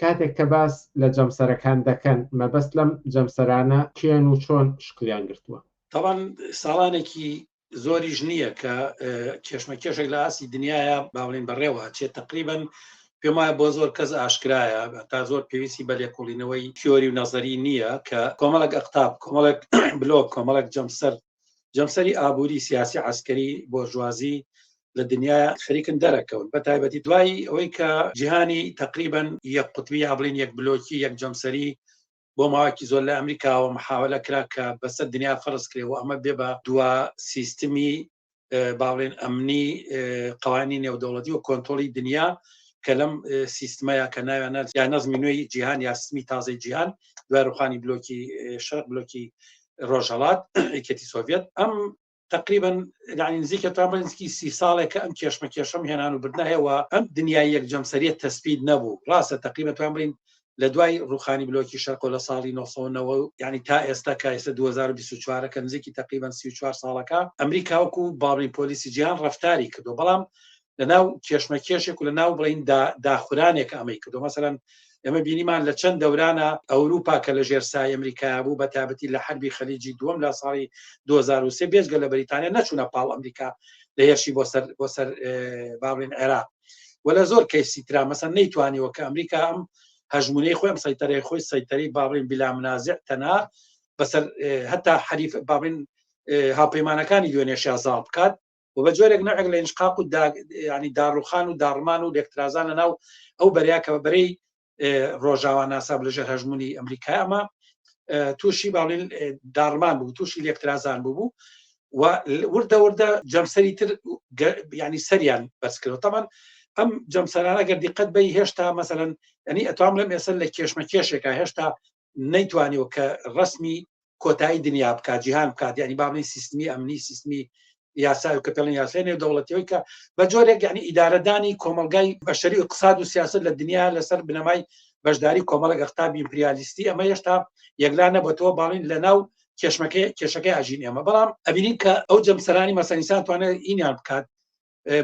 کاتێک کە باس لە جەمسەرەکان دەکەن مەبەست لەم جەمسەرانە کێن و چۆن شکلیان گرتووە؟ تاوان ساڵانێکی زۆریش نییە کە کێشمە کێشێک لە ئاسی دنیاە باڵین بەڕێوە چێت تقریبن پێم وایە بۆ زۆر کەس ئاشکرایە تا زۆر پێویستی بە لێکۆڵینەوەی تیۆری و نەزەری نییە کە کۆمەڵک ئەقتاب کۆمەڵک بلۆک کۆمەڵک جەمسەر جەمسەری ئابووری سیاسی عسکەری بۆرژوازی لە دنیای خەریکن دەرەکەون بە تایبەتی دوایی ئەوەی کە جیهانی تقریبان یەک قوتبی یا بڵین یەک بلۆکی یەک جەمسەری بۆ ماواکی زۆر لە ئەمریکاوە محاولە کرا کە بەسەر دنیا فەرز کرێ و ئەمە بێ بە دوا سیستمی باڵێن ئەمنی قوانی نێودەوڵەتی و کۆنتۆلی دنیا کە لەم سیستمەیە کە ناویانە یا نەزمی نوێی جیهان یاسمی تازەی جیهان دوای ڕوخانی بلۆکی شەر بلۆکی ڕۆژهڵات یەکێتی سۆڤێت ئەم تقریبا ینی نزیکە تا بەنزکی سی ساڵێک کە ئەم کێشمە کێشم هێنان و بردنەهەوە ئەم دنیای یەک جەمسەریت تەسبیت نەبوو ڕاستە تقریبا توان بڵین لە دوای ڕوخانی بلۆکی شەرقۆ لە ساڵی 1990 ینی تا ئێستا کا ئێستا 2024 کە نزیکی تقریبا 34 ساڵەکە ئەمریکاوەکو باڵی پۆلیسی جیان ڕفتاری کردو بەڵام لە ناو کێشمەکێشێک و لە ناو بڵین داخورانێک ئەمەی کردو مەسەرەن ئێمە بینیمان لە چەند دەورانە ئەوروپا کە لە ژێر سای ئەمریکا بوو بە تابەتی لە حربی خەلیجی دووەم لە ساڵی 2023 بێزگە لە بەریتانیا نەچوونە پاڵ ئەمریکا لە هێرشی بۆ سەر بۆ سەر باڵین عێراق و لە زۆر کەیسی تررا مەسەن نەیتوانیوە کە ئەمریکا ئەم هەژمونەی خۆم سەیتەرەی خۆی سەیتەری باڵین بلا منازع تەنا بەسەر هەتا حریف باڵین هاپەیمانەکانی دوێنێشیا زاڵ بکات و بە جۆرێک نەعێک لە ئینشقاق و ینی داڕوخان و داڕمان و لێکترازان لە ناو ئەو بەریا کە بە بەرەی ڕۆژاوا ناساب لە ژێر هەژمونی ئەمریکا ئەمە تووشی باڵین داڕمان بوو تووشی لێکترازان بوو و وردە وردە جەمسەری تر ینی سەریان بەسکرەوە تەمان ئەم جەمسەرانە گەر دیقەت بی هێشتا مەسەن ئەنی ئەتوام لەم ئێسن لە کێشمە کێشێکە هێشتا نەیتوانیەوە کە ڕسمی کۆتایی دنیا بکات جیهان بکات ینی باڵی سیستمی ئەمنی سیستمی یاسای کە پێڵن یاسای نێو دەوڵەتەوەی کە بە جۆرێک یعنی ئیدارەدانی کۆمەلگای بەشەری و قساد و سیاست لە دنیا لەسەر بنەمای بەشداری کۆمەڵک ئەختابی ئیمپریالیستی ئەمە هێشتا یەکلا نەبەتەوە باڵین لە ناو کێشمەکەی کێشەکەی ئاژین ئێمە بەڵام ئەبینین کە ئەو جەمسەرانی مەسەنیسان توانێت ئینیان بکات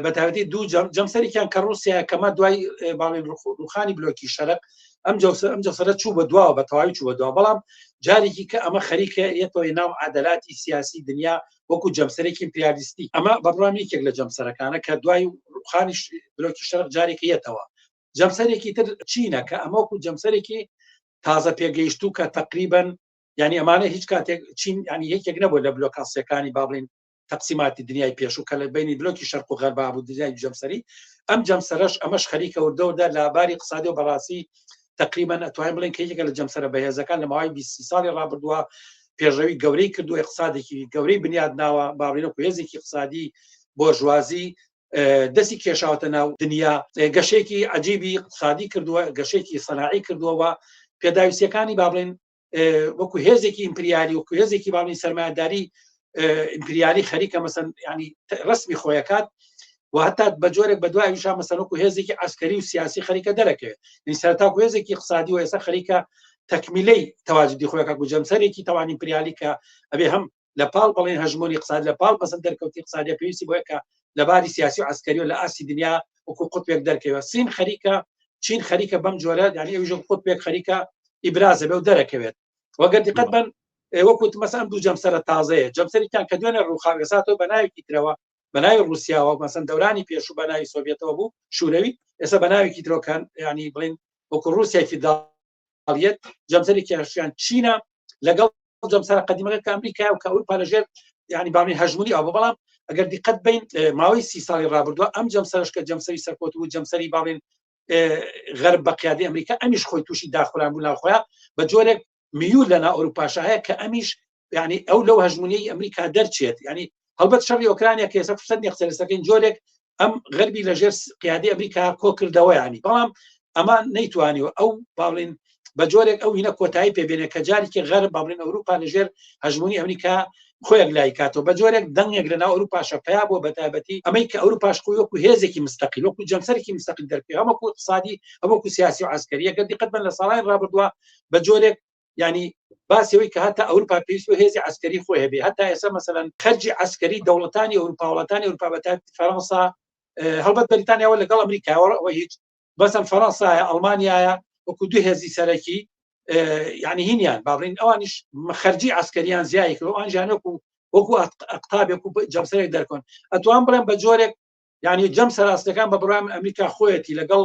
بەتاوەتی دوو جەمسەرێکیان کە رووسیا کەمە دوای باڵین ڕوخانی بلۆکی شەرق ئەم جەوسە ئەم جەسەرە چوو بە دواوە بە تەواوی چوو بە دوا بەڵام جارێکی کە ئەمە خەریکە یەتەوەی ناو عادەلاتی سیاسی دنیا وەکو جەمسەرێکی پیالیستی ئەمە بەڕام یەکێک لە جەمسەرەکانە کە دوای ڕوخانی بلۆکی شەرق جارێکی یەتەوە جەمسەرێکی تر چینە کە ئەمە وەکو جەمسەرێکی تازە پێگەیشت و کە تقریبن ینی ئەمانە هیچ کاتێک چین ینی یەکێک نەبوو لە بلۆکاسیەکانی باڵین تەقسیماتی دنیای پێشوو کە لە بینی بلۆکی شەرق و غەربا بوو دنیای جەمسەری ئەم جەمسەرش ئەمەش خەریکە وردەوردە لە باری قسادی و بەڕاستی تقریبان ئەتوانین بڵێن کە یەکە لە جەمسەرە بەهێزەکان لە ماوەی 20 ساڵی ڕابردووە پێشەوی گەورەی کردو اقتصادێکی گەورەی بنیاد ناوە باڕینە کوێزێکی قسادی بۆ ژوازی دەستی کێشاوتە ناو دنیا گەشێکی عجیبی قسادی کردووە گەشێکی سەناعی کردووەوە پێداویستەکانی با بڵێن وەکو هێزێکی ئیمپریالی وەکو هێزێکی باڵی سەرمایداری ئیمپریالی خەریکە مەسەن ینی ڕسمی خۆیەکات و هەتا بە جۆرێک بە دوای وشا مەسەرۆک و هێزێکی ئەسکەری و سیاسی خەریکە دەرەکەوێت سەرتا و هێزێکی قسادی و ئێستا خەریکە تەکمیلەی تەواجدی خۆیەکە و جەمسەرێکی تەوانی پریالی کە ئەبێ هەم لە پاڵ بەڵێن هەژمۆنی قساد لە پاڵ بەسەر دەرکەوتی قسادی پێویستی بۆیە کە لە باری سیاسی و عسکەری و لە ئاستی دنیا وەکو قوتێک دەرکەوە سین خەریکە چین خەریکە بەم جۆرە دانی ئەوژە قوتێک خەریکە ئیبرازە بەو دەرەکەوێت وەگەر دیقەت بن وەکوت مەسان دوو جەمسەرە تازەیە جەمسەریان کە دوێنێ ڕووخاوێساتەوە بە ناوێکی ترەوە بە ناوی رووسیاوە مەسن دەورانی پێش و بە ناوی سۆڤێتەوە بوو شوورەوی ئێستا بە ناوێکی درۆکان ینی بڵین وەکو رووسێکی دا ئیمپریالیەت جەمسەری کێشیان چینە لەگەڵ جەمسەر قدیمەکە کە ئەمریکای و کە ئەوروپا لەژێر ینی بامی هەژمونی ئەو بەڵام ئەگەر دیقەت بین ماوەی سی ساڵی ڕابردووە ئەم جەمسەرش کە جەمسەری سەرکۆت و جەمسەری باڵین غەرب بە قیادی ئەمریکا ئەمیش خۆی تووشی داخوران بوو ناخۆیان بە جۆرێک میول لەنا ئەوروپاشە هەیە کە ئەمیش یعنی ئەو لەو هەژمونی ئەمریکا دەرچێت ینی هەڵبەت شەڕی ئۆکرانیا کە ئێستا فرسەت نێختەرستەکەین جۆرێک ئەم غەربی لەژێر قیادی ئەمریکا کۆکردەوەیانی بەڵام ئەمە نەیتوانی و ئەو باڵین بە جۆرێک ئەو هینە کۆتایی پێبێنێ کە جارێکی غەر باڵین ئەوروپا لەژێر هەژمونی ئەمریکا خۆیان لای کاتەوە بە جۆرێک دەنگێک لە ناو ئەوروپاشە پیا بۆ بەتابەتی ئەمەی کە ئەوروپاش خۆی وەکو هێزێکی مستەقی وەکو جەمسەرێکی مستەقی دەرکە هەمەکو اقتصادی ئەوەکو سیاسی و عسکەریەکە دیقەت بن لە ساڵانی ڕابردووە بە جۆرێک ینی باسەوەی کە هەتا ئەوروپا پێویست و هێزی ئەسکەری خۆی هەبێ هەتا ئێستا مەسەەن خەرجی ئەسکەری دەوڵەتانی ئەوروپاوڵەتانی ئەوروپابەت فەرەنسا هەڵبەت بەریتانیاوە لەگەڵ ئەمریکاوە ئەوە هیچ بەسم فەرەنسایە ئەڵمانایە وەکو دوو هێزی سەرەکی یعنی هینیان باڵین ئەوانیش خەرجی ئەسکەریان زیایکە ئەوان ژانەکو وەکو قوتابێک و جەمسەرێک دەرکۆن ئەتوان بڵێن بە جۆرێک ینی جەم سەراستەکان بە بڕام ئەمریکا خۆیەتی لەگەڵ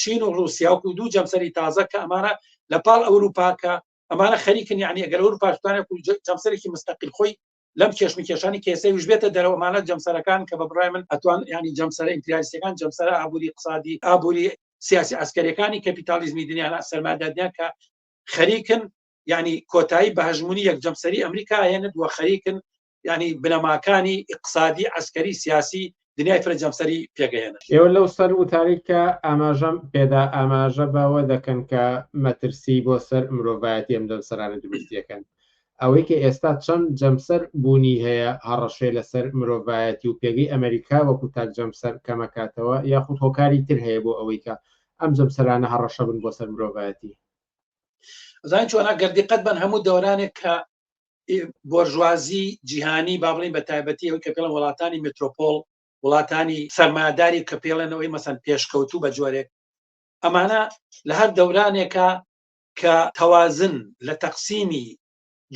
چین و ڕوسیاوکو دوو جەمسەری تازە کە ئەمانە لە پاڵ ئەوروپاکە ئەمانە خەریکن یعنی ئەگەر ئەوروپاشتانە جەمسەرێکی مستەقل خۆی لەم کێشم کێشانی کێسەی وژبێتە دەرەوەمانە جەمسەرەکان کە بە بڕای من ئەتوان ینی جەمسەر ئیمپریالیستەکان جەمسەر ئابووری قسادی ئابووری سیاسی ئەسکەرەکانی کەپیتالیزمی دنیاە سەرمادادنیان کە خەریکن ینی کۆتایی بە هەژمونی یەک جەمسەری ئەمریکا هێنە دووە خەریکن یعنی بنەماکانی ئقسادی عسکەری سیاسی دنیای فرە جەمسەری پێگەیەنە ئێوە لەو سەر وتاری کە ئاماژەم پێدا ئاماژە بەوە دەکەن کە مەترسی بۆ سەر مرۆڤایەتی ئەم جەمسەرانە دروست دەکەن ئەوەی کە ئێستا چەند جەمسەر بوونی هەیە هەڕەشێ لەسەر مرۆڤایەتی و پێگەی ئەمریکا وەکو تاک جەمسەر کەمەکاتەوە یاخود هۆکاری تر هەیە بۆ ئەوەی کە ئەم جەمسەرانە هەڕەشە بن بۆ سەر مرۆڤایەتی زان چۆن ئەگەر دیقەت بەن هەموو دەورانێک کە بۆرژوازی جیهانی با بڵین بە تایبەتی ئەوی کە پێڵەن وڵاتانی مترۆپۆل وڵاتانی سەرماداری کە پێڵێنەوەی مەسەن پێشکەوتوو بە جۆرێک ئەمانە لە هەر دەورانێکە کە تەوازن لە تەقسیمی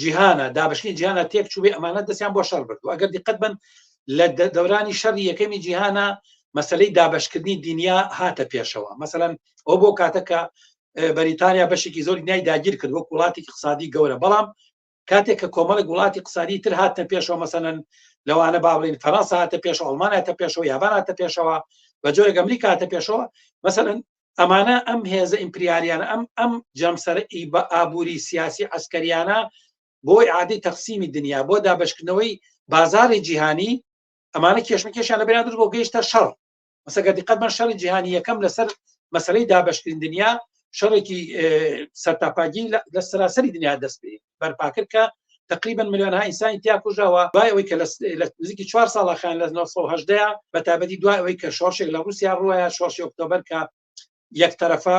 جیهانە دابشنی جیانە تێک چوبێ ئەمانە دەستیان بۆ شەر بردو ئەگەر دیقەت بن لە دەورانی شەڕی یەکەمی جیهانە مەسلەی دابشکردنی دنیا هاتە پێشەوە مەسەەن ئەو بۆ کاتەکە بەریتانیا بەشێکی زۆری نای داگیر کرد وەک وڵاتێکی قسادی گەورە بەڵام کاتێک کە کۆمەڵێک وڵاتی قسادی تر هاتە پێشەوە مەسەن لەوانە باڵین فەرەنسا هاتە پێش ئەڵماناتە پێشەوە یاباناتە پێشەوە بە جۆرێک ئەمریکا هاتە پێشەوە مەسەن ئەمانە ئەم هێزە ئیمپریاریانە ئەم ئەم جەمسەر ئی بە ئابووری سیاسی ئەسکەریانە بۆی عادی تەقسیمی دنیا بۆ دابشکردنەوەی بازاری جیهانی ئەمانە کێشمەکێشیان لە بێنان درست بۆ گەیشتە شەڕ مەسەگە دیقەت بە شەڕی جیهانی یەکەم لەسەر مەسلەی دابشکرین دنیا شەڕێکی سەرتاپاگی لە سراسەری دنیا دەست پێ بەرپاکرد کە تقریبا ملیۆن ئینسانی تیا کوژەوە دوای ئەوەی کە لە نزیکی چوار ساڵەخان لە 1970 بە تابەتی دوای ئەوەی کە شۆشێک لە رووسیا ڕوە شۆش ئۆکتۆبەر کە یەک تەرەفە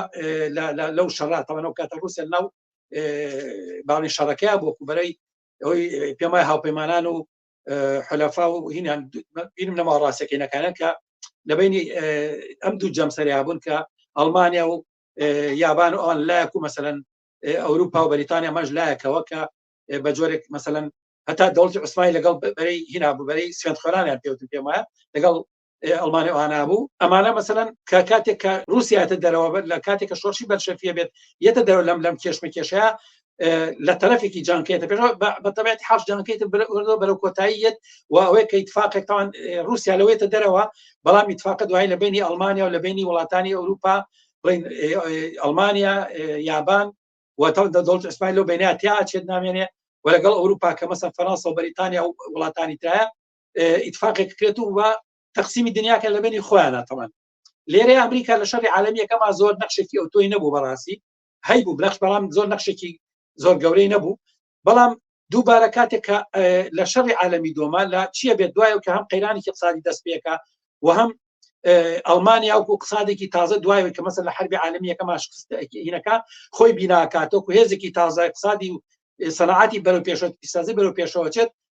لەو شەڕاتەوەەوە کاتە رووسیا ناو باڵی شەڕەکەی بۆ کوبەرەی ئەوی پێمای هاوپەیمانان و حەلەفا و هینان بینم لەما ڕاستەکەینەکانە کە لە بینی ئەم دوو جەمسەریا بوون کە ئەڵمانیا و یابان و ئەوان لایەک و مەسەن ئەوروپا و بەریتانیا مەش لایەکەوە کە بە جۆرێک مەسەن هەتا دەوڵی عوسمانی لەگەڵ بەرەی هینا بەرەی سوێن خۆرانیان پێوتن پێمە لەگەڵ ئەڵمانیا وانابوو ئەمانە مەسەن کە کاتێک کە رووسایەتە دەرەوە بێت لە کاتێک کە شۆرشی بەرشەفیە بێت یەتە دەرەوە لەم لەم کێشمە کێشە لە تەرەفێکی جانکێتە پێ بەتەبێت حش جانکەیت بەرە کۆتاییەت و ئەوەیە کە اتفاقێکتان رووسیا لەوەیتە دەرەوە بەڵام اتفاق دوای لە بینی ئەلمانیا و لە بینی وڵاتانی ئەوروپا بڵین ئەلمانیا یابان وەتە دەڵت ئەسمای لەو بیناتیا چێت نامێنێ و لەگەڵ ئەوروپا کە مەسە فەرەنسا و بەریتانیا و وڵاتانی تایە ئیتفاقێک کرێت و وە تەقسیمی دنیاکە لە بینی خۆیانە تەوان لێرە ئەمریکا لە شەری عالمیەکەما زۆر نەخشێکی ئەو تۆی نەبوو بەڕاستی هەی بوو بەخش بەڵام زۆر نەخشێکی زۆر گەورەی نەبوو بەڵام دووبارە کاتێک لە شەڕی عالمی دۆما لە چییە بێت دوایە کە هەم قەیرانێکی قسادی دەست پێەکە و هەم ئەلمانیا وکو قسادێکی تازە دوایە کە مەسە لە حربی عالمیەکە ماشکستینەکە خۆی بیناکاتۆک و هێزێکی تازای قسادی و سەنعاتی بەرەو پێشەوە پیسازی بەرەو پێشەوەچێت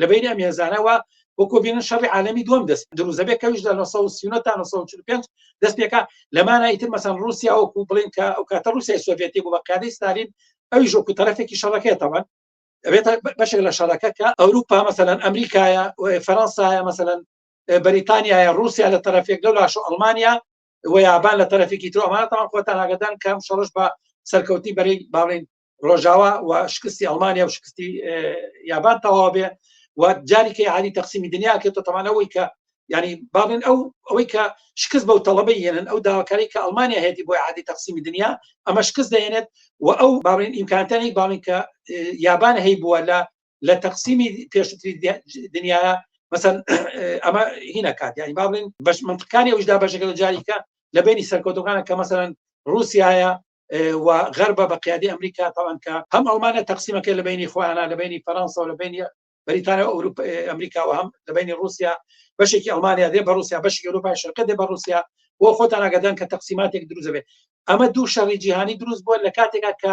لە بینی ئەم هێزانەوە وەکو بینن شەڕی عالمی دوم دەست دروزەبێ کەویش لە 1995 دەست پێکا لەمانە ئیتر مەسان رووسیا وەکو بڵین کە ئەو کاتە رووسای سۆڤێتی بوو بە قیادی ستالین ئەوی ژۆکو تەرەفێکی شەڕەکەێتەوە ئەبێت بەشێک لە شەڕەکە کە ئەوروپا مەسەەن ئەمریکایە فەرەنسایە مەسەەن بەریتانیایە رووسیا لە تەرەفێک لەو لاش و ئەڵمانیا و یابان لە تەرەفێکی تۆمانەتەوە خۆتان ئاگدان کەم شەڕش بە سەرکەوتی بەری باڵین ڕۆژاوا و شکستی ئەڵمانیا و شکستی یابان تەواو بێ و جاریکەی عالی تەقسیمی دنیا کێتە تەمانەوەی کە ینی باڵێن ئەو ئەوەی کە شکست بەو تەڵەبەی یەنن ئەو داواکاری کە ئەڵمانیا هێتی بۆی عادی تەقسیمی دنیا ئەمە شکست دەێنێت و ئەو باڵێن ئیمکانتانی باڵین کە یابان هەی بووە لە لە تەقسیمی پێشتری دنیا مەسەن ئەمە هینە کات یانی باڵین بەش منتقانی ئەوشدا بەشەکە جاریکە لە بینی سەرکۆتەکانە کە مەسەرەن رووسایە و غەربە بە قیادی ئەمریکا تاوان کە هەم ئەڵمانە تەقسیمەکە لە بینی خۆیانە لە بینی فەرەنسا و لە بینی بریتانیا ئەوروپ ئەمریکا و هەم لە بینی رووسیا بەشێکی ئەڵمانیا دێ بە رووسیا بەشی ئەوروپای شەرقە دێ بە رووسیا بۆ خۆتان ئاگادان کە تەقسیماتێک دروست بێت ئەمە دوو شەڕی جیهانی دروست بووە لە کاتێکا کە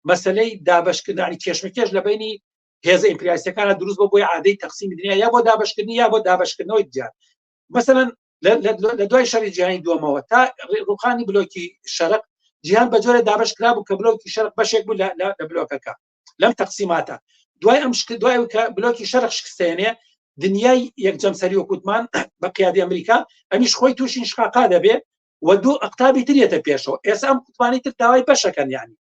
مەسلەی دابشکردنی کێشمەکێش لە بینی هێزە ئیمپریاسەکانە دروست بۆ بۆی عادەی تەقسیمی دنیا یا بۆ دابشکردنی یا بۆ دابشکردنەوەی جیان مثلەن لە دوای شەری جیهانی دومەوە تا ڕوخانی بلۆکی شەرق جیان بە جۆرە دابش کرا بوو کە بلۆکی شەرق بەشێک بوو لە بلۆکەکە لەم تەقسیماتە دوای ئەم شکل دوای کە بلۆکی شەرق شکستێنێ دنیای یەکجەم سەری و کووتمان بە قیادی ئەمریکا ئەمیش خۆی تووشین شقاقا دەبێ و دوو ئەقتابی ترێتە پێشەوە ئێستا ئەم کوتمانی تر داوای بەشەکەن یانی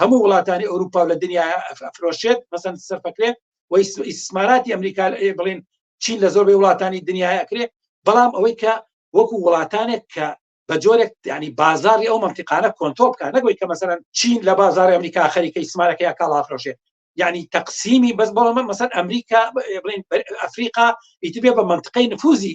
هەموو وڵاتانی ئەوروپا و لە دنیا ئەفرۆشێت مەسەن سەرفەکرێت و ئیسماراتی ئەمریکا بڵین چین لە زۆربەی وڵاتانی دنیای ئەکرێ بەڵام ئەوەی کە وەکو وڵاتانێک کە بە جۆرێک ینی بازاری ئەو منتیقانە کۆنتۆل بکە نەگوی کە مەسەرەن چین لە بازار ئەمریکا خەریکە ئیسمارەکە یا کاڵافرۆشێ یعنی تەقسیمی بەس بەڵام مەسەر ئەمریکا بڵین ئەفریقا ئیتبێ بە منتقەی نفوزی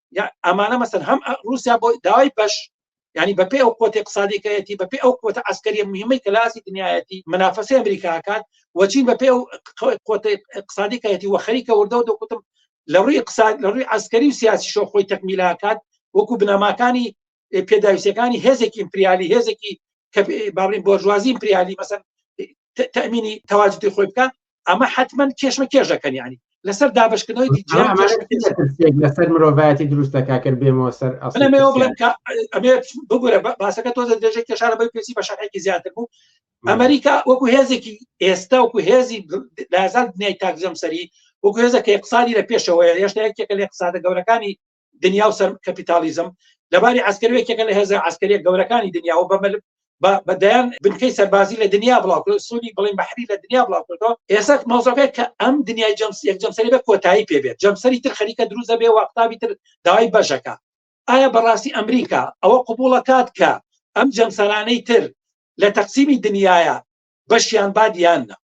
ئەمانە مەسەر هەم رووسیا بۆ داوای بەش ینی بەپی ئەو قوت اقتصادیکەتی بەپی ئەو قوت ئەسکەری مهمەی کەلاسی دنیایەتی منافەسی ئەمریکاکان وەچین بەپی ئەو قوت اقتصادیکەتی و خەریکە وردە و دەکوتم لە ڕووی اقتصاد لە ڕووی ئەسکەری و سیاسی شۆ خۆی تەکمیلاکات وەکو بنەماکانی پێداویستەکانی هێزێکی ئیمپریالی هێزێکی کە باڵین بۆرژوازی ئیمپریالی مەسەن تەمینی تەواجدی خۆی بکە ئەمە حتمما کێشمە کێژەکەن ینی لەسەر دابشکردنەوەی لەسەر مرۆڤایەتی دروست دەکا کرد بێمەوە سەر ئەمێ بگورە باسەکە تۆ دەێژێک کێشارە بەی پێسی بە شارێکی زیاتر بوو ئەمریکا وەکو هێزێکی ئێستا وکو هێزی لازان دنیای تاکزەم سەری وەکو هێزە کە اقتصادی لە پێشەوەی هێشتا یەکێکە لە اقتصادە گەورەکانی دنیا و سەر کەپیتالیزم لەباری عسکەر یەکێکە لە هێزە عسکەریە گەورەکانی دنیاوە بەمل بە دەیان بنکەی سەربازی لە دنیا بڵاوکرد سوودی بڵین بەحری لە دنیا بڵاوکردەوە ئێستا مەوزەکە کە ئەم دنیای جەمس یەک جەمسەری بە کۆتایی پێبێت جەمسەری تر خەریکە دروزە بێ وەقتابی تر داوای بەشەکە ئایا بەڕاستی ئەمریکا ئەوە قوبوڵەکات کە ئەم جەمسەرانەی تر لە تەقسیمی دنیاە بەشیان بادیان نە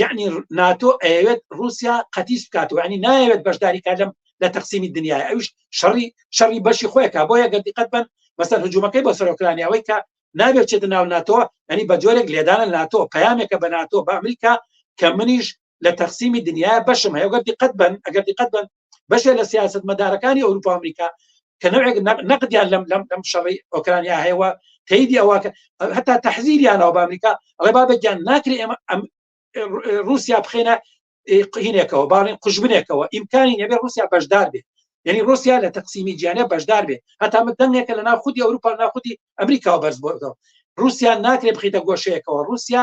یعنی ناتۆ ئەوێت رووسیا قەتیس بکاتەوە ینی نایەوێت بەشداری کا لەم لە تەقسیمی دنیای ئەوش شەڕی شەڕی بەشی خۆیکە بۆ یەگە دیقەت بن بەسەر هجوومەکەی بۆ سەرۆکرانیەوەی کە نابێت چێتە ناو ناتۆ ئەنی بە جۆرێک لێدانە ناتۆ پامێکە بە ناتۆ بە ئەمریکا کە منیش لە تەقسیمی دنیا بەشم هەیە گەر دیقەت بن ئەگەر دیقەت بن بەشێ لە سیاست مەدارەکانی ئەوروپا ئەمریکا کە نەوێک نەقدیان لەم لەم لەم شەڕی ئۆکرانیا هەیەوە تەیدی ئەوواکە هەتا تەحزیریانەوە بە ئەمریکا ئەڵێ بابە گیان ناکرێ ئێمە رووسیا بخێنە قینێکەوە باڵین قژبنێکەوە ئیمکانی نەبێ رووسیا بەشدار بێت یعنی رووسیا لە تەقسیمی جیانە بەشدار بێت هەتا من دەنگێکە لە ناو خودی ئەوروپا ناخودی ئەمریکاوە بەرز بۆەوە رووسیا ناکرێ بخیتە گۆشەیەکەوە رووسیا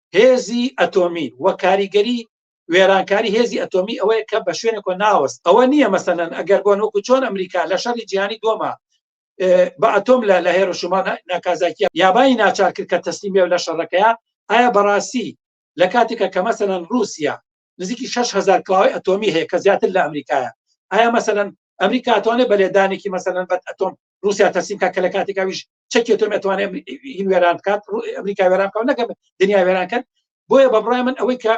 هێزی ئەتۆمی وە کاریگەری وێرانکاری هێزی ئەتۆمی ئەوەیە کە بە شوێنێکۆ ناوەست ئەوە نییە مەسەەن ئەگەر بۆن وەکو چۆن ئەمریکا لە شەری جیانی دۆما بە ئەتۆم لە لە هێرشمان ناکازاکیە یابانی ناچار کرد کە تەسلیم بێ لە شەڕەکەیە ئایا بەڕاستی لە کاتێکە کە مەسەەن رووسیا نزیکی 6هزار کلاوی ئەتۆمی هەیە کە زیاتر لە ئەمریکایە ئایا مەسەەن ئەمریکاتوانێت بە لێدانێکی مەسەەن بەت ئەتۆم روسیا تەسیم کا کە لە کاتێک ئەویش چەکی تۆم ئەتوانێ هین وێران بکات ئەمریکا وێران بکەم نەکەم دنیا وێران کرد بۆیە بە بڕای من ئەوەی کە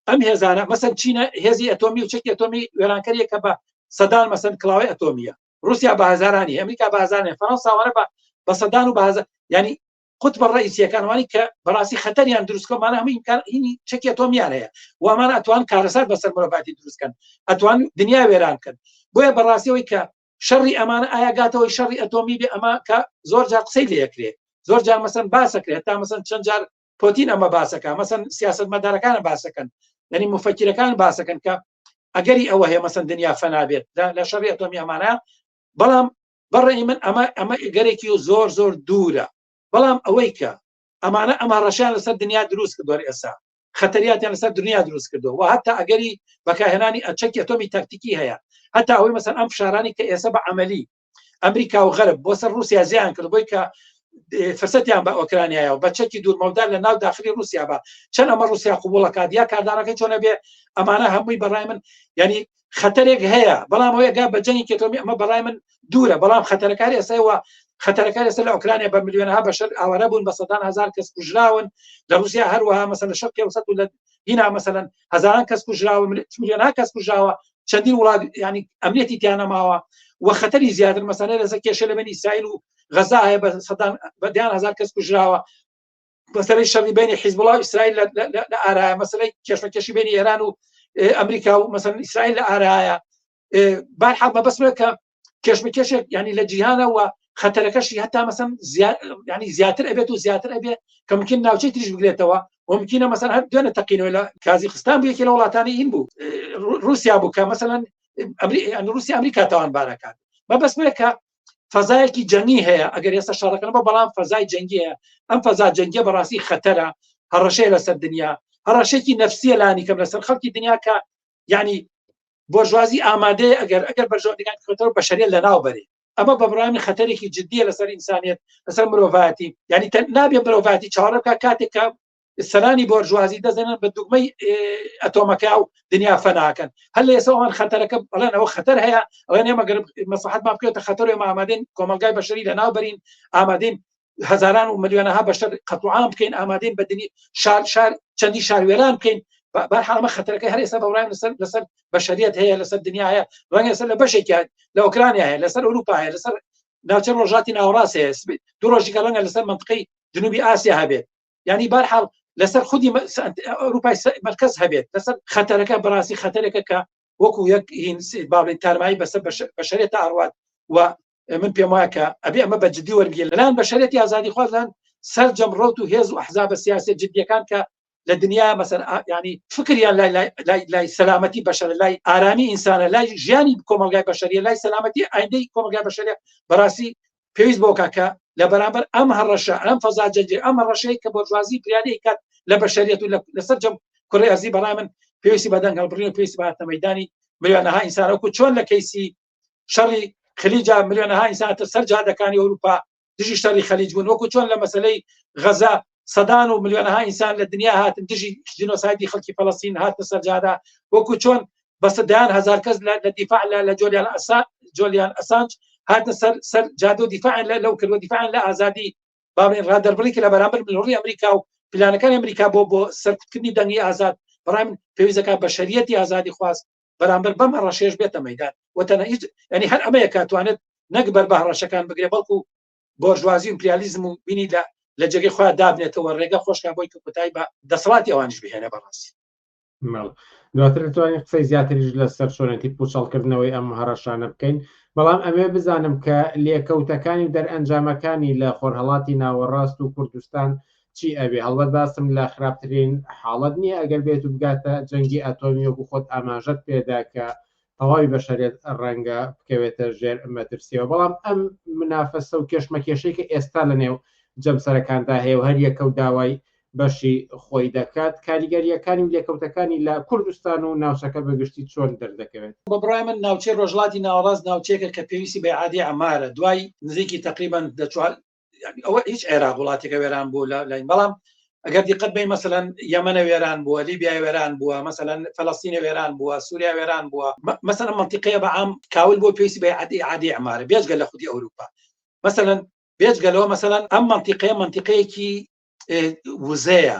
ئەم هێزانە مەسەن چینە هێزی ئەتۆمی و چەکی ئەتۆمی وێرانکەریە کە بە سەدان مەسەن کلااوی ئەتۆمیە روسیا بە هزارانی ئەمریکا بازانێ فەرەنساوانە بە بە سەدان و بازە ینی قوت بە ڕئیسیەکانوانی کە بەڕاستی خەتەریان دروستکەمانە هەموو ئیمکانینی چەکی ئەتۆمیان هەیە وامان ئەتوان کارەسات بەسەر مرۆڤاتی دروستکەن ئەتوان دنیا وێران کرد بۆیە بەڕاستیەوەی کە شەڕی ئەمانە ئایا گاتەوەی شەڕی ئەتۆمی بێ ئەمە کە زۆر جار قسەی لەکرێ زۆر جار مەسن باسەکرێت تا مەسن چەند جار پۆتین ئەمە باسەکە مەسن سیاست مەدارەکانە باسەکەن یعنی مفەکیرەکان باسەکەن کە ئەگەری ئەوە هەیە مەسن دنیا فەنابێت لە شەڕی ئەتۆمی ئەمانە بەڵام بەڕێ من ئەمە ئەمە گەرێکی و زۆر زۆر دوورە بەڵام ئەوەی کە ئەمانە ئەمە ڕەشیان لەسەر دنیا دروست کردوەر ئێسا خەتەریاتیان لەسەر دنیا دروست کردو و هەتا ئەگەری بەکارهێنانی ئەچەکی ئەتۆمی تاکتیکی هەیە هەتا ئەوەی مەسەن ئەم فشارانی کە ئێستا بە عملی ئەمریکا و غەرب بۆ سەر رووسیا زیان کرد بۆی کە فرسەتیان بە ئۆکرانیایە و بە چەکی دوورمەودار لە ناو داخلی رووسیا بە چەند ئەمە رووسیا قوبوڵەکات یا کاردانەکە چۆنە بێ ئەمانە هەمووی بەڕای من ینی خەتەرێک هەیە بەڵام ئەوەیە گا بە جەنگی کێتۆمی ئەمە بەڵای من دوورە بەڵام خەتەرەکاری ئێسەوە خەتەرەکە لەسەر لە ئۆکرانیا بە میلیۆنها بەشەر ئاوارە بوون بە سەدان هزار کەس کوژراون لە رووسیا هەروەها مەسە لە شەر قێوسەت و لە دینا مەسەن هزاران کەس کوژراوە میلیۆنها کەس کوژراوە چەندین وڵات ینی ئەمنێتی تیانەماوە و خەتەری زیاتر مەسانە لەسە کێشە لە بەنی سایل و غەزا هەیە بە سەدان بەدیان هزار کەس کوژراوە مەسەی شەڕی بینی حیزبڵاو ئیسرائیل لە ئارایە مەسلەی کێشمەکەشی بینی ئێران و ئەمریکا و مەسەن ئیسرائیل لە ئارایە بار حاڵ مەبەسمە کە کێشمەکێشێک ینی لە جیهانەوە خەتەرەکەشی هەتا مەسەن ینی زیاتر ئەبێت و زیاتر ئەبێ کە ممکن ناوچەی تریش بگرێتەوە ومکینە مەسەن هەر دوێنە تەقینەوە لە کازی خستان بوو یەکی لە وڵاتانی این بوو رووسیا بوو کە مەسەن رووسی ئەمریکا تاوان بارەکان مەبەسمە کە فەزایەکی جەنگی هەیە ئەگەر ئێستا شەڕەکەن بە بەڵام فەزای جەنگیە ئەم فەزا جەنگە بەڕاستی خەتەرە هەڕەشەیە لەسەر دنیا هەڕەشێکی نفسیە لانی کەم لەسەر خەڵکی دنیا کە ینی بۆژوازی ئامادەیە ئەگەر ئەگەر بەرژۆدەکان کۆتەوە بەشەریە لە ناو بەرێ ئەمە بەبرامی خەتەرێکی جددیە لەسەر ئینسانیت لەسەر مرۆڤاتی ینی نابێ مرۆڤاتی چاڕەکە کاتێکە سەرانی بۆرژوازی دەزەنن بە دوگمەی ئەتۆمەکە و دنیا فەناکەن هەل لە ئێسەوان خەتەرەکە بەڵێن ئەوە خەتەر هەیە ئەوە نێمە گەر مەسەحەت ما بکرێتە خەتەر و ئامادەین کۆمەلگای بەشەری لە ناوبەرین ئامادەین هزاران و ملیۆنەها بەشەر قەتوعام بکەین ئامادەین بە دنی شار شار چەندی شاروێران بکەین بەحاڵمە خەتەرەکە هەر ئێستا بەڕای لەسەر لەسەر بەشریت هەیە لەسەر دنیا هەیە ڕەنگ لەسەر لە بەشێکیان لە ئۆکرانیا هەیە لەسەر ئەوروپا هەیە لەسەر ناوچە ڕۆژاتی ناوڕاست هەیە دو ڕۆژی گەڵەنگە لەسەر منطقی جنوبی ئاسیا هەبێت ینی بارحاڵ لەسەر خودی ئەوروپای مرکز هەبێت لەسەر خەتەرەکە بەڕاستی خەتەرێکە کە وەکو یەک باڵی تارمایی بەسەر بەشێت ئاڕات و من پێم وایە کە ئەبێ ئەمە بە جددی وەرگێ لەلاەن بەشێت یازادی خوازان سەررجەم ڕوت و هێز و حزابە سیاسی جددیەکان کە لە دنیا مەسەر ینی فکریان لای لای سەلامەتی بەشەر لای ئارامی ئینسانە لای ژیانی کۆمەلگای بەشەریە لای سەلامەتی ئایندەی کۆمەلگای بەشەرە بەڕاستی پێویست بۆ کا کە لە بەرامبەر ئەم هەڕەشە ئەم فەزا جەنجێ ئەم هەڕەشەیە کە بۆرژوازی گریانەی کات لە بەشەریەت و لەسەر جەم کوڕی ئەزی بەڵای من پێویستی بە دەنگ هەڵبڕین و پێویستی باتە مەدانی ملیۆنەها ئینسانەکو چۆن لە کەیسی شەڕی خلیجا ملیۆنەها ئینسانتە سەر جادەکانی ئەوروپا دژی شەڕی خەلیج بوون وەکو چۆن لە مەسلەی غەزە سەدان و ملیۆنها ئینسان لە دنیا هاتن دژی جینۆسایدی خەڵکی فەڵستین هاتە سەرجادا وەکو چۆن بەسە دەیان هزار کەس لە دیفاع لە لە جۆلیان ئەسا جۆلیان ئەسانج هاتە سەر سەر جادە و دیفاعن لە لەو کردوە دیفاعن لە ئازادی باڵێن ڕادەربڕی کە لە بەرامبەر ملوڕی ئەمریکا و پلانەکان ئەمریکا بۆ بۆ سەرکوتکردنی دەنگی ئازاد بەڕام پێویستەکە بە شەریەتی ئازادی خواست بەرامبەر بەم هەڕەشێش بێتە مەدان وتەنە هیچ ینی هەر ئەمەیە کاتوانێت نەک بەر بە هەڕەشەکان بگرێ بەڵکو بۆرژوازی و ئیمپریالیزم و بینی لە لە جێگەی خۆیان دابنێتەوە ڕێگە خۆشکە بۆی کە کۆتایی بە دەسەڵاتی ئەوانیش بهێنە بەڕاستی ماڵ دواتر دەتوانین قسەی زیاتریش لەسەر چۆنێتی پوچەڵکردنەوەی ئەم هەڕەشانە بکەین بەڵام ئەمێ بزانم کە لێکەوتەکانی و دەرئەنجامەکانی لە خۆرهەڵاتی ناوەڕاست و کوردستان چی ئەبێ هەڵبەت باسم لە خراپترین حاڵەت نییە ئەگەر بێت و بگاتە جەنگی ئەتۆمی وەکو خۆت ئاماژەت پێدا کە تەواوی بەشەرێت ڕەنگە بکەوێتە ژێر مەترسیەوە بەڵام ئەم منافەسە و کێشمەکێشەی کە ئێستا لە نێو جەمسەرەکاندا هەیە و هەریەکە و داوای بەشی خۆی دەکات کاریگەریەکانی و لێکەوتەکانی لە کوردستان و ناوچەکە بەگشتی چۆن دەردەکەوێت بە بڕای من ناوچەی ڕۆژڵاتی ناوەڕاست ناوچەیەکە کە پێویستی بە عادی ئەمارە دوای نزیکی تقریبان ئەوە هیچ عێراق وڵاتێکە وێران بوو لە لاین بەڵام ئەگەر دیقەت بین مەسەەن یەمەە وێران بووە لیبیا وێران بووە مەسەەن فلستینە وێران بووە سووریا وێران بووە مەسەن منتیقەیە بە ئام کاول بۆ پێویستی بە عادی عادی ئەمارە بێژگە لە خودی ئەوروپا مەسەەن بێژگەلەوە مەسەەن ئەم منتیقەیە منتیقەیەکی وزەیە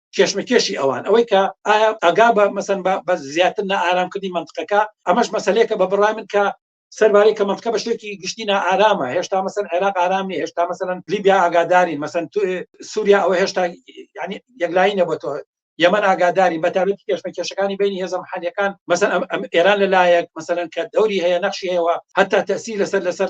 کێشمەکێشی ئەوان ئەوەی کە ئایا ئەگا بە مەسن بە زیاتر نە ئارامکردنی منطقەکە ئەمەش مەسلەیەکە بە بڕای من کە سەربارەی کە منطقە بە شتێکی گشتی نا ئارامە هێشتا مەسن عێراق ئارامی هێشتا مەسەن لیبیا ئاگاداری مەسن تو سووریا ئەوە هێشتا ینی یەکلایی نەبە تۆ یەمەن ئاگاداری بەتابێت کێشمە کێشەکانی بینی هێزە محەلەکان مەسەن ئەم ئێران لەلایەک مەسەن کە دەوری هەیە نەخشی هەیەوە هەتا تەسی لەسەر لەسەر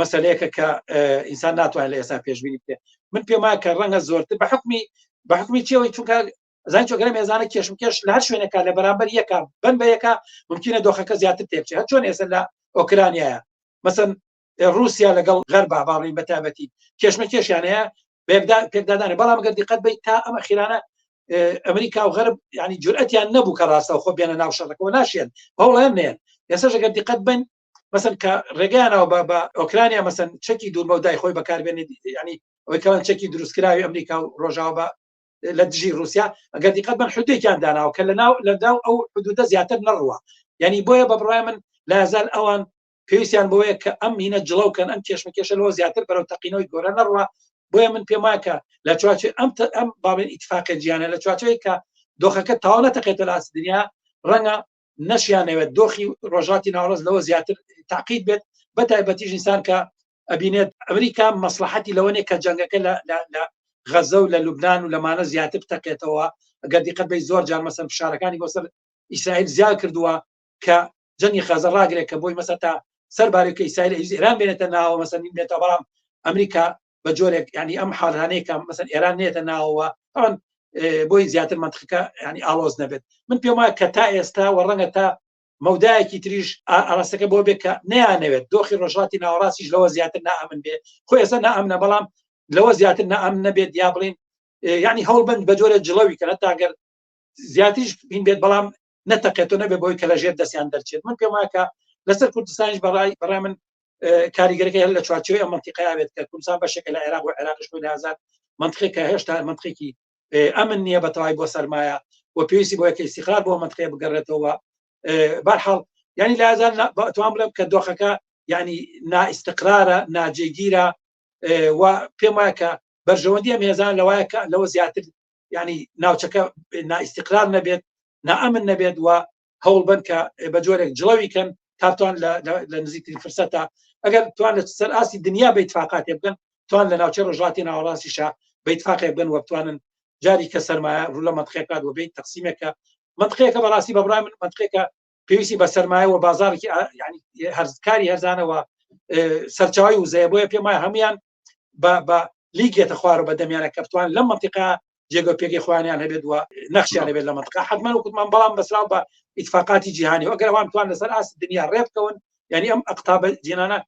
مەسلەیەکە کە ئینسان ناتوانێت لە ئێستا پێشببینی بێ من پێم وایە کە ڕەنگە زۆرتر بە حکمی بە حکمی چیەوەی چونکە زان چۆگەرە مێزانە کێشم کێش لە هەر شوێنەکە لە بەرامبەر یەکە بن بە یەکە ممکنە دۆخەکە زیاتر تێکچێت هە چۆن ئێستا لە ئۆکرانیایە مەسن رووسیا لەگەڵ غەر باباڕین بە تابەتی کێشمە کێشیان هەیە بێکدا پێکدادانە بەڵام گەر دیقەت بیت تا ئەمە خیرانە ئەمریکا و غەرب ینی جورئەتیان نەبوو کە ڕاستە خۆ بێنە ناو شەڕەکەەوە ناشێن هەوڵێن نێن ئێستا ژەگەر دیقەت بن مەسن کە ڕێگەیانەوە بە بە ئۆکرانیا مەسن چەکی دوورمە و دای خۆی بەکاربێنێت ینی ئەوەی کەوان چەکی دروستکراوی ئەمریکا و ڕۆژاوە بە لە دژی رووسیا ئەگەر دیقەت بن حدێکیان داناوە کە لە ناو لەداو ئەو حدودە زیاتر نەڕوە ینی بۆیە بە بڕای من لازال ئەوان پێویستیان بۆیە کە ئەم هینە جڵەوکەن ئەم کێشمەکێشە لەوە زیاتر بەرەو تەقینەوەی گۆرە نەڕوە بۆیە من پێم وایکە لە چواچێ ئەم ئەم باڵێن ئیتفاقە جیانە لە چواچەیە کە دۆخەکە تاوانەتەقێتە لاس دنیا ڕەنگە نەشیانەوێت دۆخی ڕۆژاتی ناوڕز لەوە زیاتر تاقیت بێت بە تایبەتیش ئینسان کە ئەبینێت ئەمریکا مەسلحەتی لەوەنێ کە جەنگەکە لە غەزە و لە لوبناان و لەمانە زیاتر بتەقێتەوە ئەگەر دیقەت بەی زۆر جار مەسەر فشارەکانی بۆ سەر ئیسرائیل زیاد کردووە کە جەنگی خەزە ڕاگرێک کە بۆی مەسە تا سەر بارێکە ئیسرائیل ئیران بێنێتە ناوە مەسەنین بێتە بەڵام ئەمریکا بە جۆرێک ینی ئەم حالانەیە کە مەسەر ئێران نێتە ناوەوە ئەوان بۆی زیاتر منتخەکە ینی ئاڵۆز نەبێت من پێم وایە کە تا ئێستا و ڕەنگە تا مەودایەکی تریش ئاراستەکە بۆ بێ کە نیانەوێت دۆخی ڕۆژاتی ناوەڕاستیش لەوە زیاتر نامن بێ خۆ ئێستا نامنە بەڵام لەوە زیاتر نام نەبێت یا بڵین ینی هەوڵبند بە جۆرە جڵەوی کە هەتاگەر زیاتریش بین بێت بەڵام نەتەقێتەوە نەبێ بۆی کە لە ژێر دەستیان دەرچێت من پێم وایە کە لەسەر کوردستانیش بەڕای بەڕای من کاریگەرەکە هەر لە چوارچەوەی ئەمەتیقای ئاوێت کە کوردستان بەشێکە لە عێراق و عێراقش خۆی لەزار منتقی کە هێشتا منتقێکی ئەمن نییە بە تەوای بۆ سەرمایە و پێویستی بۆ یەکەی سیخار بۆ منتقێ بگەڕێتەوە بەرحاڵ ینی لازار توان بڵێ کە دۆخەکە ینی نائستقرارە ناجێگیرە و پێم وایە کە بەرژەوەندی ئەم هێزان لەوایە کە لەوە زیاتر یعنی ناوچەکە نائیسیقرار نەبێت نائەمن نەبێت و هەوڵ بن کە بە جۆرێک جڵەوی کەن تاتوان لە نزیکترین فرسەتە ئەگەر توان لە سەر ئاستی دنیا بە تفاقاتێ بگەن توان لە ناوچە ڕژاتی ناوەڕاستیشە بە تفاقێ بگەن وەبتوانن جاری کە سەرمایە ڕوو لە منتخێکات و بین تەقسیمێکە منتخێکە بەڕاستی بەبرای من منتخێکە پێویستی بە سەرمایە و بازارێکی هەرزکاری هەرزانەوە سەرچاوی وزەیە بۆیە پێم وایە هەمویان بە لیگێتە خوارە بە دەمیانە کەفتوان لەم منتیقا جێگە پێگەی خوانیان هەبێت وە نەخشیان لەبێت لە منتقا حتمان و کوتمان بەڵام بەسرا بە ئیتفاقاتی جیهانی ئەگەر ئەوان توان لەسەر ئاست دنیا ڕێبکەون یعنی ئەم ئەقتابە جیێنانە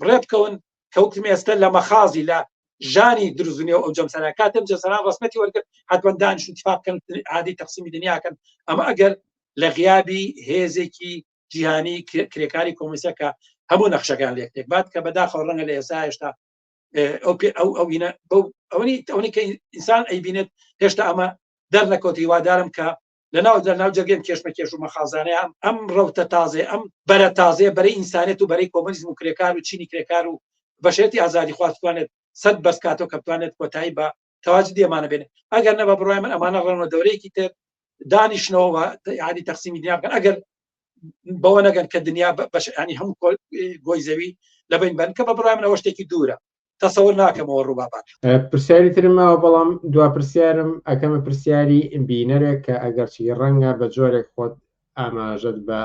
ڕێبکەون کەوتم ئێستا لە مەخازی لە ژانی درزنی و ئەو جەمسەرا کاتم جەسەران ڕسمەتی وەرگرت حتمەندان شتفاقن عادی تەقسیمی دنیاکەن ئەمە ئەگەر لە غیابی هێزێکی جیهانی کرێکاری کۆمیسەکە هەموو نەخشەکان لێک تێکبات کە بەداخەوە ڕەنگە لە ئێستا هێشتا ئەو پێ ئەو ئەوینە ئەوەی ئەوەی کە ئینسان ئەیبینێت هێشتا ئەمە دەرنەکەوتی وادارم کە لەناو دەرناو جەرگم کێشمەکێش و مەخازانەیە ئەم ئەم ڕوتە تازێ ئەم بەرە تازێ بەرەی ئینسانێت و بەرەی کۆمەنیزم و کرێکار و چینی کرێکار و بەشێتی ئازادی خواستوانێت سەد بەسکاتۆ کە بتوانێت کۆتایی بە تەواج دێمانە بێنێت ئەگەر نەبە بڕای من ئەمانە ڕەنەوە دەورەیەکی تر دانیشنەوە یادی تەقسیمی دنیا بکەن ئەگەر بەوە نەگەن کە دنیا بەشانی هەم گۆی زەوی لە بین بن کە بە بڕای منەوە شتێکی دوورە تەسەور ناکەمەوە ڕووبابات پرسیاری ترم ماوە بەڵام دو پرسیارم ئەکەمە پرسیاری بینەرێک کە ئەگەرچی ڕەنگە بە جۆرێک خۆت ئاماژەت بە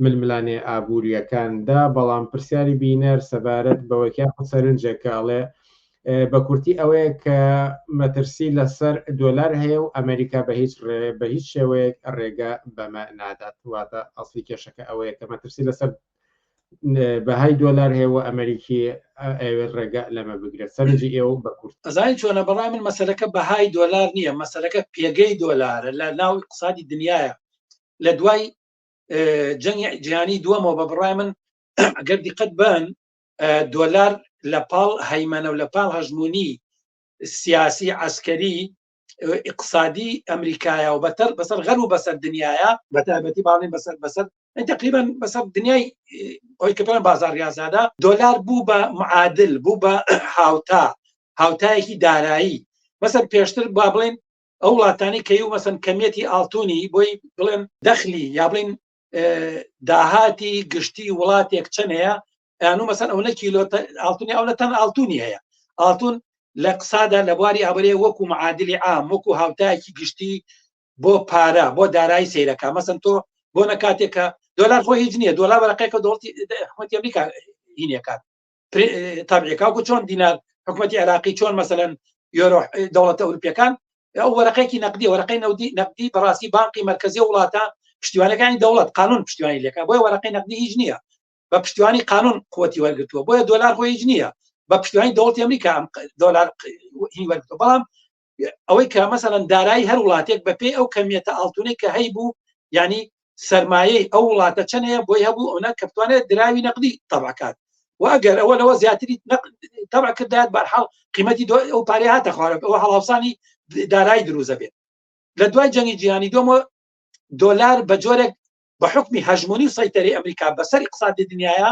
ململانێ ئابوووریەکاندا بەڵام پرسیاری بینەر سەبارەت بەوەکیان سەرنجێکاڵێ بە کورتی ئەوەیە کە مەترسی لەسەر دۆلار هەیە و ئەمریکا بە هیچ ڕێ بە هیچ شێوەیەک ڕێگە بەمە نادات واتە ئەاصلی کێشەکە ئەوەیە کە مەترسی لەسەر بەهای دۆلار هەیە و ئەمریکی ئەوێت ڕێگە لەمە بگرە سەرنجی ئێوە بە کورت ئەزای چۆنە بەڵای من مەسەرەکە بەهای دۆلار نییە مەسەرەکە پێگەی دۆلارە لە ناو اقتصادی دنیاە لە دوای جەنگی جیهانی دووەمەوە بە بڕای من ئەگەر دیقەت بن دۆلار لە پاڵ هەیمەنە و لە پاڵ هەژمونی سیاسی عسکەری اقتصادی ئەمریکایە و بەتەر بەسەر غەر و بەسەر دنیاە بە تایبەتی باڵین بەسەر بەسەر تقریبا بەسەر دنیای ئەوی کە پێڵێن بازار ریازادا دۆلار بوو بە معادل بوو بە هاوتا هاوتایەکی دارایی مەسەر پێشتر با بڵێن ئەو وڵاتانی کەی و مەسن کەمیەتی ئاڵتونی بۆی بڵێن دەخلی یا بڵین داهاتی گشتی وڵاتێک چەند هەیە یانو مەسەن ئەو نەکیلۆ ئاڵتونی ئەو لە تەن ئاڵتونی هەیە ئاڵتون لە قسادا لە بواری ئابرێ وەکو معادلی عام وەکو هاوتایەکی گشتی بۆ پارە بۆ دارایی سیرەکە مەسن تۆ بۆ نە کاتێکە دۆلار خۆ هیچ نییە دۆلار بەرەقەکە دۆڵتی حکوومەتی ئەمریکا هینەکان تابعێکاکو چۆن دینار حکوومەتتی عراقی چۆن مەسەن یۆرۆ دەوڵەتە ئەوروپیەکان ئەو وەرەقێکی نەقدی وەرەقەی نەودی نەقدی بەڕاستی بانقی مرکزی وڵاتە پشتیوانەکانی دەوڵەت قانون پشتیوانی لەکە بۆی وەرەقەی نەقدی هیچ نییە بە پشتیوانی قانون قوتی وەرگتووە بۆیە دۆلار خۆ هیچ نییە بە پشتیوانی دەوڵەتی ئەمریکا دۆلار هی وەرگتووە بەڵام ئەوەی کە مەسەەن دارایی هەر وڵاتێک بە پێی ئەو کەمیەتە ئاڵتونەی کە هەی بوو ینی سرمایەی ئەو وڵاتە چەنەیە بۆی هەبوو ئەوە کە بتوانێت دراوی نەقدی تەبکات واگەر ئەوە لەوە زیاتری تەبع کردات بەرحاڵ قیمەتی دو ئەو پارێ هاتە خوارەوە ئەوە هەڵاوسانی دارایی دروزە بێت لە دوای جەنگی جیهانی دۆمە دۆلار بە جۆرێک بە حکمی هەژمونی و سەیتەری ئەمریکا بەسەر اقتصادی دنیاە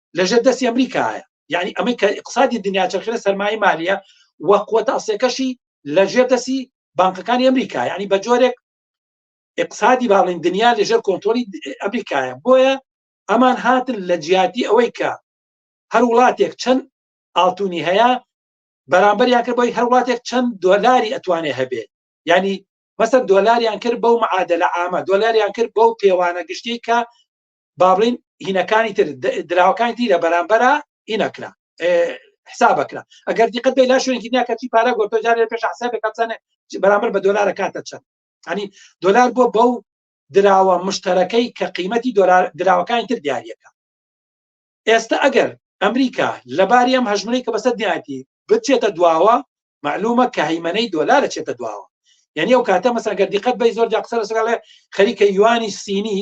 لەژێر دەستی ئەمریکایە یعنی ئەمەی کە اقتصادی دنیا چرخە سەرمایە مالیە و قوتە ئەسێکەشی لەژێر دەستی بانکەکانی ئەمریکا ینی بە جۆرێک اقتصادی باڵین دنیا لەژێر کۆنتۆلی ئەمریکایە بۆیە ئەمان هاتن لە جیاتی ئەوەی کە هەر وڵاتێک چەند ئاڵتونی هەیە بەرامبەریان کرد بۆی هەر وڵاتێک چەند دۆلاری ئەتوانێ هەبێ ینی مەسەر دۆلاریان کرد بەو معادلە ئامە دۆلاریان کرد بەو پێوانە گشتی کە بابلین هینەکانی تر دراوەکانی دی لە بەرامبەرە هینەکرا حسابەکرا ئەگەر دیقەت بێ لا شوێنکی دنیا کەچی پارا گۆتۆ جارێ پێش حسابێ کەچانێ بەرامبەر بە دۆلارە کاتە چەند ئەنی دۆلار بۆ بەو دراوە مشتەرەکەی کە قیمەتی دۆلار دراوەکانی تر دیارەکە ئێستا ئەگەر ئەمریکا لەباری ئەم هەژمری کە بەسەر دیاتی بچێتە دواوە معلومە کە هەیمەەی دۆلارە چێتە دواوە یعنی ئەو کاتە مەسەگەر دیقەت بەی زۆر جاقسەر سگەڵێ خەریکە یوانی سینی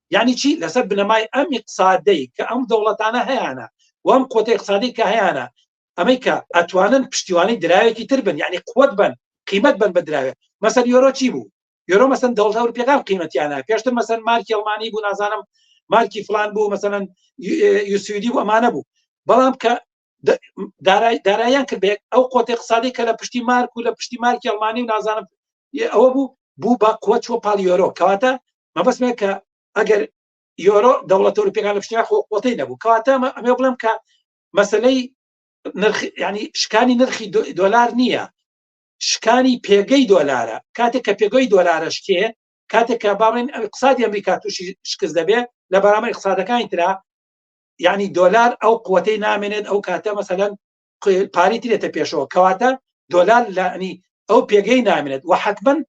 یعنی چی لەسەر بنەمای ئەم اقتصادەی کە ئەم دەوڵەتانە هەیەە وام قوتی اقتصادی کە هەیەە ئەمەی کە ئەتوانن پشتیوانی دراوێکی تر بن یعنی قوت بن قیمت بن بە دراوێت مەسەر یۆرۆ چی بوو یۆرۆ مەسەن دەوڵ ئەورپیەکان قیمەتیانە پێشتر مەسەن مارکی ئەڵمانی بوو نازانم مارکی فلان بوو مەسەن یوسیدی و ئەمانە بوو بەڵام کە دارایان کرد بێت ئەو قۆت اقتصادی کە لە پشتی مارک و لە پشتی مارکی ئەڵمانی و نازانم ئەوە بوو بوو بە قوە چوە پاڵ یۆرۆ کەواتە مەبەستمێ کە ئەگەر یۆرۆ دەوڵەت ئەوروپیەکان لە پشتیا خۆ قوتی نەبوو کەواتە ئەمێ بڵم کە مەسلەی نرخ ینی شکانی نرخی دۆلار نییە شکانی پێگەی دۆلارە کاتێک کە پێگەی دۆلارشکێ کاتێک کە باڵێن ئەقسادی ئەمریکا تووشی شکست دەبێت لە بەرامەر اقتصادەکانی تررا یعنی دۆلار ئەو قوتەی نامێنێت ئەو کاتە مەسەەن پاری ترێتە پێشەوە کەواتە دۆلار لەنی ئەو پێگەی نامێنێت و حتممەن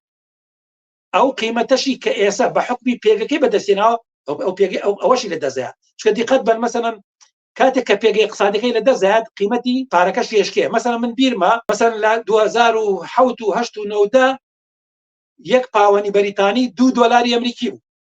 ئەو قیمەتەشی کە ئێسا بە حکمی پێگەکەی بەدەستێناوە ئەو پێگەی ئەو ئەوەشی لە دەزایە چکە دیقەت بەر مەسەەن کاتێک کە پێگەی قسادەکەی لە دەزایات قیمەتی پارەکە شێشکێ مەسەن من بیرمە مەسەن لە 2010 و 1970 یەک پاوەنی بەریتانی دو دۆلاری ئەمریکی بوو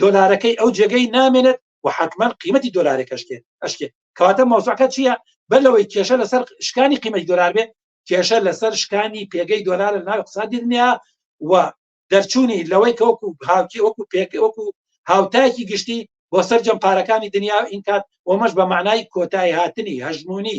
دۆلارەکەی ئەو جێگەی نامێنێت و حتممەن قیمەتی دۆلارێکەشکێت ئەشکێت کەواتە مەوزعەکە چییە بەر لەوەی کێشە لەسەر شکانی قیمەی دۆلار بێت کێشە لەسەر شکانی پێگەی دۆلار لە ناو اقتصادی دنیا و دەرچوونی لەوەی کە وەکو هاوکی وەکو پێک وەکو هاوتایەکی گشتی بۆ سەررجەم پارەکانی دنیا ئینکات ومەش بە معنای کۆتایی هاتنی هەژمونی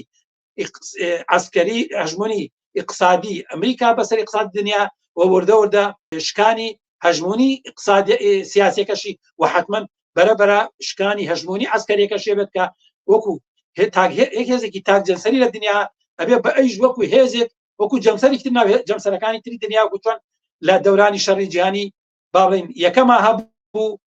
ئەسکەری هەژمونی اقتصادی ئەمریکا بەسەر اقتصاد دنیا و وردە وردە شکانی هەژمونی اقتصاد سیاسەکەشی و حتمما بەرە بەرە شکانی هەژمونی ئەسکەرێکە شێبێت کە وەکو هێزێکی تاک جەنسەری لە دنیا ئەبێ بە ئەیش وەکو هێزێک وەکو جەمسەری تر ناوێت جەمسەرەکانی تری دنیا گوتوان لە دەورانی شەڕی جیهانی باڵین یەکەما هەبوو